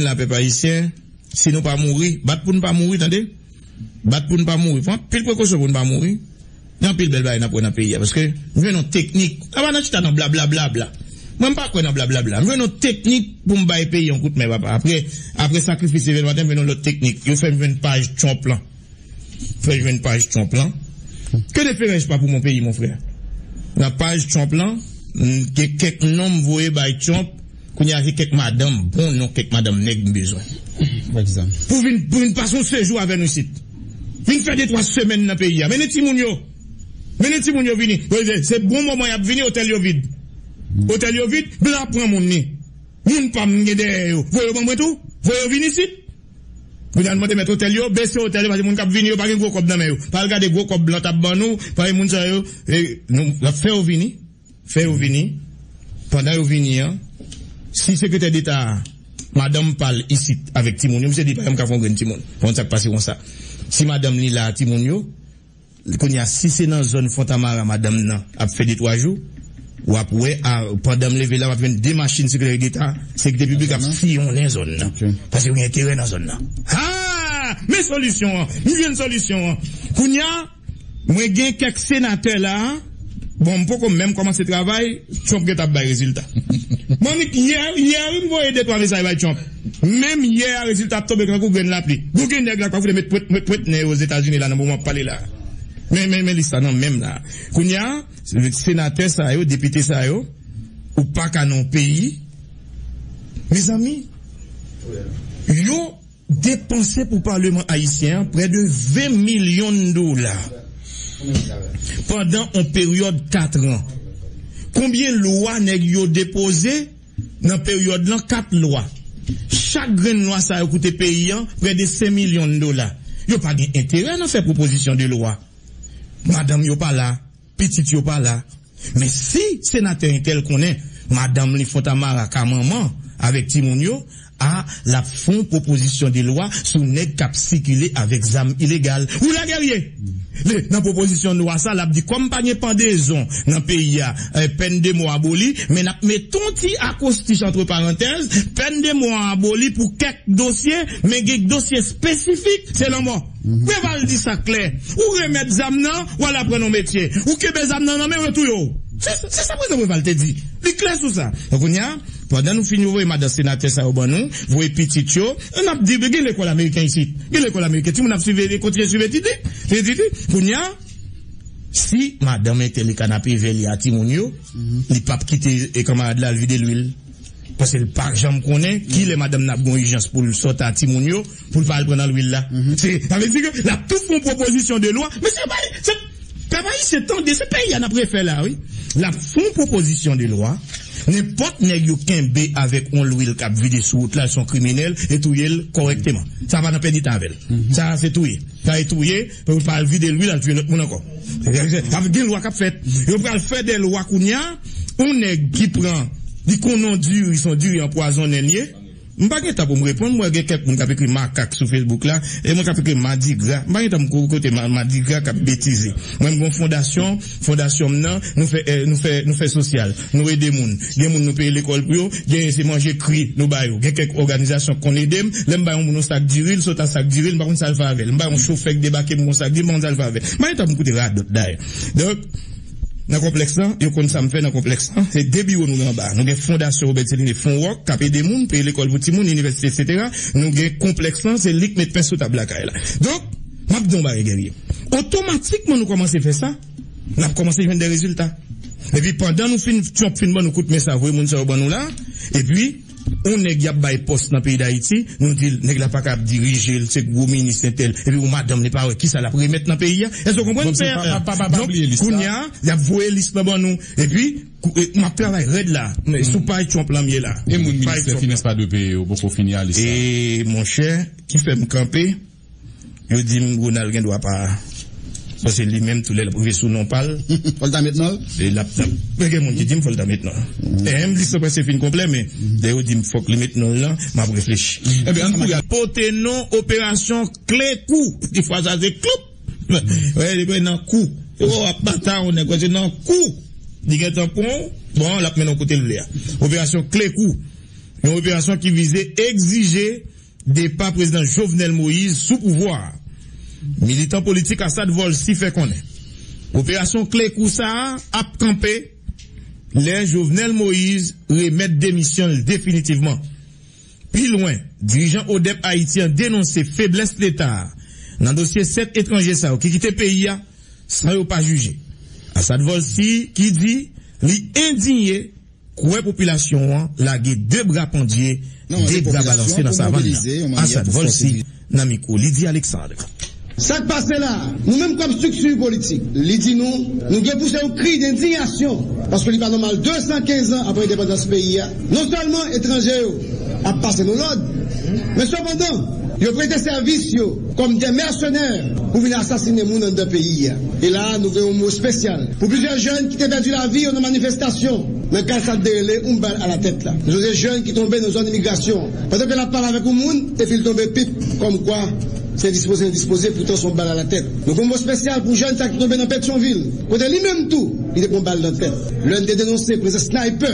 la pèp ayisyen si nou pa mouri bat pou nou pa mouri tande bat pou nou pa mouri pran anpil prekosyon pou nou pa mouri gen anpil bèl bagay nap wè nan peyi a paske m jwenn yon teknik a pa nan chita nan blablablabla mwen m pa kwè nan blablabla m jwenn yon teknik pou m bay peyi yon kout men papa aprè aprè sakrifis evèlmaten m jwenn yon lòt teknik yo fèm jwenn paj trump lan. Fè jwenn paj Trump lan. Que de ferèj pa pou mon peyi mon frè. Nan paj Trump lan m gen kèk non m voye bay Trump kounye a se kèk madanm bon non kèk madanm nèg m bezwen. Pou vin pou vin pase yon sejou avè nou isit. Vin fè de twa semèn nan peyi a. Mennen timoun yo. Mennen timoun yo vini. Se bon moman y ap vini otèl yo vid. Otèl yo vid blan ap pran moun ni. Moun pa m m gen dèyè yo. Voye yo ban mwen tou. Voye yo vini isit. Pou yal mande mèt otèl yo bese otèl yo paske moun kap vini yo pa gen gwo kòb nan men yo pa al gade gwo kòb blan tap ban nou paske moun sa yo lap fè yo vini fè yo vini pandan yo vini an si sekretè deta a madanm pal isit avèk timoun yo misye di pa janm ka fè yon grenn timoun pa konn sak pase konsa si madanm li la timoun yo. Kounye a si se nan zòn Fontamara madanm nan ap fè de twa jou, w ap wè a pandan m leve la m ap jwenn de machin sekreteri deta, sekirite piblik ap siyonnen zòn nan paske yo gen enterè nan zòn nan. Haa! Men solisyon an! M jwenn solisyon an! Kounye a mwen gen kèk senatè la a. Bon m poko menm kòmanse travay Trump gentan ap bay rezilta Manmi yè yè wi m voye de twa mesaj bay Trump menm yè a rezilta ap tonbe kankou grenn lapli Gougi nèg la pa fout met pwet met pwet nen yo ozetazini la nan moman m ap pale la men men men lis la nan menm la kounya senatè sa yo depite sa yo ou paka nan yon peyi mezanmi yo. Depanse pou Paleman Ayisyen an prè de 20 milyon dola pandan on peryòd 4 an. Konbyen lwa nèg yo depoze nan peryòd lan 4 lwa. Chak grenn lwa sa yo koute peyi an prè de 5 milyon dola. Yo pa gen enterè nan fè pwopozisyon de lwa. Madanm yo pa la. Pitit yo pa la. Men si senatè entèl konnen madanm li fon tamara ka manman avèk timoun yo a lap fon pwopozisyon de lwa sou nèg kap sikile avèk zam ilegal wi la Guerrier le nan pwopozisyon lwa sa lap di kòm pa gen pandezon nan peyi a pèn de mò aboli men nap met on ti akwostich antre parantèz pèn de mò aboli pou kèk dosye men gen dosye espesifik se lanmò. Preval di sa klè, ou remèt zam nan, w al aprann yon metye. Ou kenbe zam nan nan men w, yo touye w. Se sa Prezidan Preval te di. Li klè sou sa. Donk kounye a, pandan nou fin voye madan senatè sa yo ban nou, voye pitit yo, an n ap di, gen lekòl ameriken isit. Gen lekòl ameriken. Timoun ap siveye, kontinye siv etid li. Siv etid li. Kounye a, si madanm entèlikana prive li a timoun yo, li pap kite kanmarad la al vide lwil. Paske l pa janm konnen ki lè madanm nan ap gen yon ijans pou l sot a timoun yo, pou l pa al pran nan lwil la. Se sa vle di ke l ap tou fè yon pwopozisyon de lwa. Mesye yo pale, se Pèp Ayisyen tande, se peyi a n ap refè la wi. L ap fè yon pwopozisyon de lwa, nenpòt nèg yo kenbe avèk yon lwil k ap vide sou wout la, se yon kriminèl, e touye l kòrèkteman. Sa pa nan pèdi tan avè l. Sa se touye. Sa e touye Yo pral vide lwil al tuye lòt moun ankò. Sa vle di gen lwa kap fèt. Yo pral fè de lwa kounya yon nèg ki pran li konnen yon diri son diri anpwazone li ye. M pa gen tan pou m reponn m wè gen kèk moun kap ekri makak sou Facebook la e mwen kap ekri madigra m pa gen tan pou m koute madigra kap betize. Mwen m gen yon fondasyon. Fondasyon m nan, nou fè nou fè nou fè sosyal, nou ede moun. Gen moun nou peye lekòl pou yo, genyen se manje kri nou ba yo. Gen kèk òganizasyon k konn ede m. Lè m bay yon moun yon sak diri, l sot ak sak diri l, m pa konn sa l fè avè l. M bay yon chofè k debake m yon sak diri, m pa konn sa l fè avè l. M pa gen tan pou m koute radòt dayè. Donk, nan konplèks lan, yo konn sa m fè nan konplèks lan. Se de biwo nou gen anba a. Nou gen Fondasyon Robert Céliné, Fonwòk, k ap ede moun, peye lekòl pou timoun, inivèsite, eksetera. Nou gen konplèks lan, se li k met pen sou tab lakay la. Donk. M ap di w yon bagay, Guerrier. Otomatikman nou kòmanse fè sa, n ap kòmanse jwenn de rezilta. Epi pandan nou fin, Trump fin ban nou kout men sa, voye moun sa yo ban nou la, epi yon nèg y ap bay pòs nan peyi Dayiti, nou di l nèg la pa ka ap dirije, l se gwo minis entèl, epi yon madanm li pa wè kisa l ap remèt nan peyi a. Èske w konprann, pè? Donk, kounye a, y ap voye lis lan ban nou. Epi, m ap travay rèd la, sou paj Trump la m ye la. E moun ministè finans pa dwe peye yo poko fini a lis la? E monchè, ki fè m kanpe. Yo dim Ronald gen dwa pa bon se li menm tou lè lap rive sou non pal fòl ta met nonl e lap men gen moun ki dim fòl ta met non em lis lan preske fin konplè men lè yo dim fòk li met nonl lan map reflechi ebyen ann kouri al pote non operasyon kle kou ti fwa sa se klop wè li nan kou oh wap bataw nèg wè se nan kou li gentan pranw bon lap mennen w kotel vle a operasyon kle kou yon operasyon ki vize egzije. Depa Prezidan Jovenel Moise sou pouvwa a, militan politik Assad Volcy fè konnen operasyon kle kou sa a ap kanpe lè Jovenel Moise remèt demisyon l definitivman. Pi lwen, dirijan ODEP Ayiti an denonse feblès Leta a nan dosye 7 etranje sa yo ki kite peyi a san yo pa jije. Assad Volcy ki di li endinye. Kouwè popilasyon an lage 2 bra pandye, 2 bra balanse nan savann nan, Assad Volcy nan mikwo Lydie Alexandre. Sa k pase la a? Nou menm kòm strikti politik, li di nou, nou gen pouse yon kri dendinyasyon paske li pa nòmal 215 an apre endepandans peyi a, non sèlman etranje yo ap pase nou lòd, men sepandan, yo prete sèvis yo. Kòm de mèsenè pou vin asasinen moun anndan peyi a. E la a nou gen yon mo spesyal pou plizyè jèn ki te pèdi lavi yo nan manifestasyon nan kad sa te rele oun bal a la tèt la. Nou sonje jèn ki tonbe nan zòn imigrasyon an pandan ke lap pale avèk yon moun epil tonbe pip kòm kwa se dispoze li dispoze poutan son bal a la tèt. Nou gen yon mo spesyal pou jèn sa ki tonbe nan Petyonvil kote li menm tou li te pran bal nan tèt lèn te denonse prezans snaypè.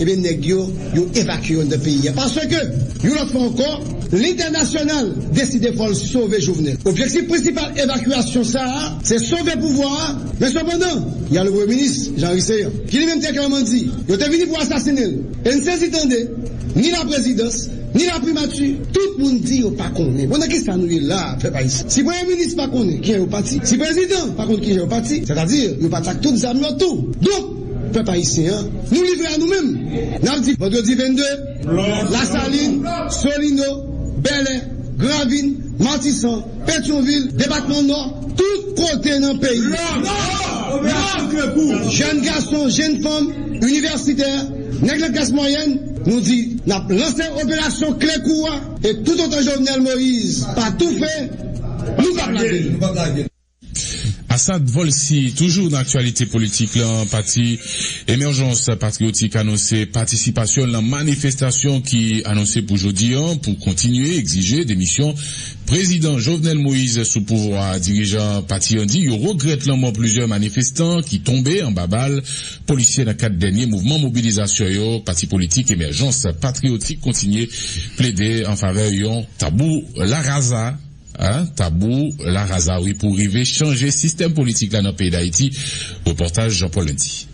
Ebyen nèg yo, yo evakye yo anndan peyi a paske, yon lòt fwa ankò, lentènasyonal deside fò l sove Jovenel. Objektif prensipal evakyasyon sa a, se sove pouvwa a, men sepandan, y a le Premye Minis, Jean Henry Céant, ki li menm te klèman di, yo te vini pou asasinen l. E n sezi tande, ni laprezidans, ni laprimati, tout moun di yo pa konnen. Bon nan ki sa nou ye la a, pèp ayisyen? Si Premye Minis pa konnen kijan yo pati, si Prezidan pa konn kijan yo pati, sètadi yo pati ak tout zam yo tou. Donk! Pèp ayisyen an, nou livre a nou menm! N ap di Vandredi 22, Lasalin, Solino, Bèlè, Gran Ravin, Matisan, Petyonvil, Depatman Nò, tout kote nan peyi a, jèn gason, jèn fanm, inivèsitè, nèg nan klas mwayèn, nou di n ap lanse operasyon kle kou a e toutotan Jovenel Moïse pa toufe, nou p ap lage l! Asad Volcy toujou nan aktyalite politik lan, pati Emèjans Patriyotik anonse patisipasyon l nan manifestasyon ki anonse pou jodi an pou kontinye egzije demisyon Prezidan Jovenel Moise sou pouvwa a. Dirijan pati an di yo regrèt lanmò plizyè manifestan ki tonbe anba bal polisye nan kad dènye mouvman mobilizasyon yo. Pati politik Emèjans Patriyotik kontinye plede anfavè yon tabou la rasa. A Tabou la raza wi pou rive chanje sistèm politik la nan peyi Dayiti, repòtaj Jean Paul Indy.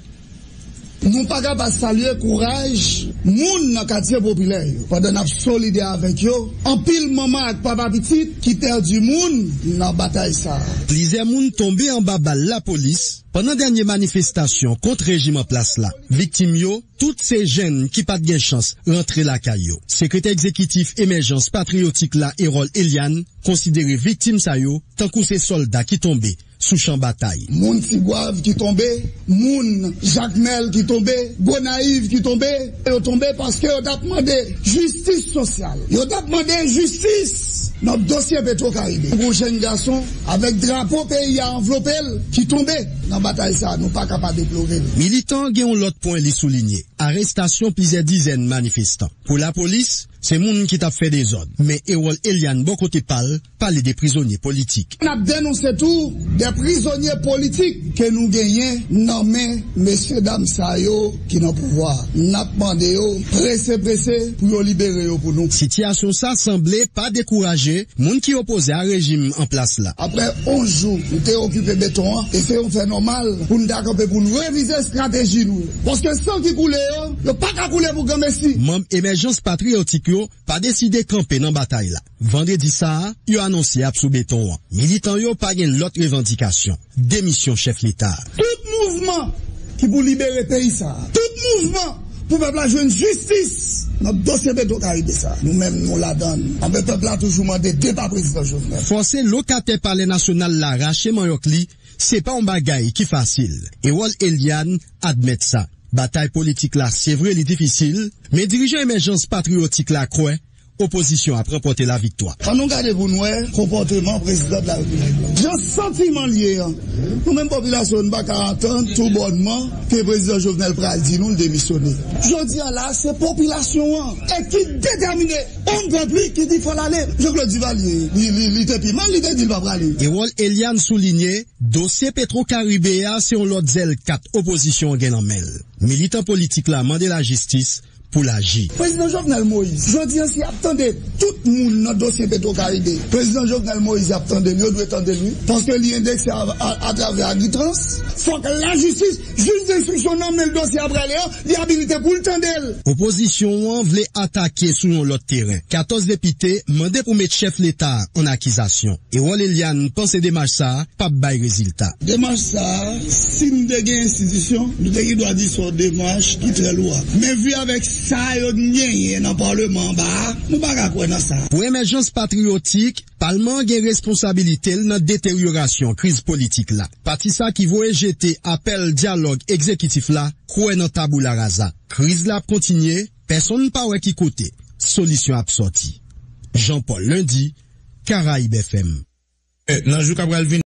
Nou pa ka pa salye kouraj moun nan katye popilè yo pandan n ap solidè avèk yo, anpil manman ak papa pitit ki pèdi moun nan batay sa a. Plizyè moun tonbe anba bal lapolis pandan dènye manifestasyon kont rejim an plas la. Viktim yo. Tout se jenn ki pat gen chans rantre lakay yo. Sekretè Egzekitif Emèjans Patriyotik la Erol Eliane konsidere viktim sa yo tankou se sòlda ki tonbe sou chan batay. Moun Tigwav ki tonbe, moun Jakmèl ki tonbe, Gonayiv ki tonbe, yo tonbe paske yo tap mande jistis sosyal, yo tap mande jistis nan dosye Petro Karibe. Yon jenn gason avèk drapo peyi a anvlope l ki tonbe. Nan batay sa a, nou pa ka pa deplore l. Militant gen yon lòt pwen li soulinye, arestasyon plizyè dizèn manifestan. Pou lapolis, se moun ki t ap fè dezòd. Me Erol Eliane bò kote pa l, pale de prizonye politik. N ap denonse tou de prizonye politik ke nou genyen nan men mesyedam sa yo. ki nan pouvwa a. N ap mande yo prese prese pou yo libere yo pou nou. Sitiyasyon sa sanble pa dekouraje moun ki opoze a rejim an plas la. Aprè 11 jou nou te okipe beton an, e se yon fè nòmal pou n ta kanpe pou n revize estrateji nou yo. Paske san ki koule yo, yo pa ka koule pou granmesi. Manm Emèjans Patriyotik yo pa deside kanpe nan batay la. Vandredi sa a, yo anonse ap sou beton an. Militan yo pa gen lòt revandikasyon, demisyon chèf leta a. Tout mouvman ki pou libere peyi sa a, tout mouvman pou pèp la jwenn jistis nan dosye petro karibe sa a, nou menm nou ladan l. Anben pèp la toujou mande depa prezidan Jovenel. Fòse lokatè palè nasyonal la rache manyòk li, se pa yon bagay ki fasil. Erol Eliane admèt sa. Batay politik la se vre li difisil, men dirijan emèjans patriyotik la kwè Opozisyon ap ranpòte la viktwa. An nou gade pou n wè konpòteman prezidan de la repiblik la. Jan santiman l ye an, nou menm popilasyon nou pa ka antann tou bònman ke prezidan Jovenel pral di nou l demisyone. Jodi a la a se popilasyon an e ki detèmine on pèp li ki di fò l ale. Jean Claude Duvalier li te pi mal li te di l pa prale. Erol Eliane soulinye dosye Petro Caribe a se on lòt zèl kat opozisyon an gen nan men l. Militan politik la mande lajistis pou l aji. Prezidan Jovenel Moise, jodi an si y ap tande tout moun nan dosye Petro Caribe, Prezidan Jovenel Moise y ap tande l, yo dwe tande l wi, paske li endekse atravè Agritrans, fòk lajistis, jij denstriksyon nan men l dosye a prale an, li abilite pou l tande l. Opozisyon an vle atake sou yon lòt teren, 14 depite mande pou met chèf leta a an akizasyon, Erol Eliane panse demach sa a p ap bay rezilta. Demach sa a Si nou te gen enstitisyon, nou te gen dwa di son demach ki trè lou a. Men vu avèk sa yo n genyen nan parleman anba a, nou pa ka kwè nan sa. Pou emèjans patriyotik, palman an gen responsabilite l nan deteryorasyon kriz politik la. Pati sa ki voye jete apèl dyalòg ekzekitif la kwè nan taboula raza. Kriz la ap kontinye, pèsonn pa wè ki kote solisyon ap sòti. Jean Paul Lundi, Caraibes FM. Nan jou k ap pral vini.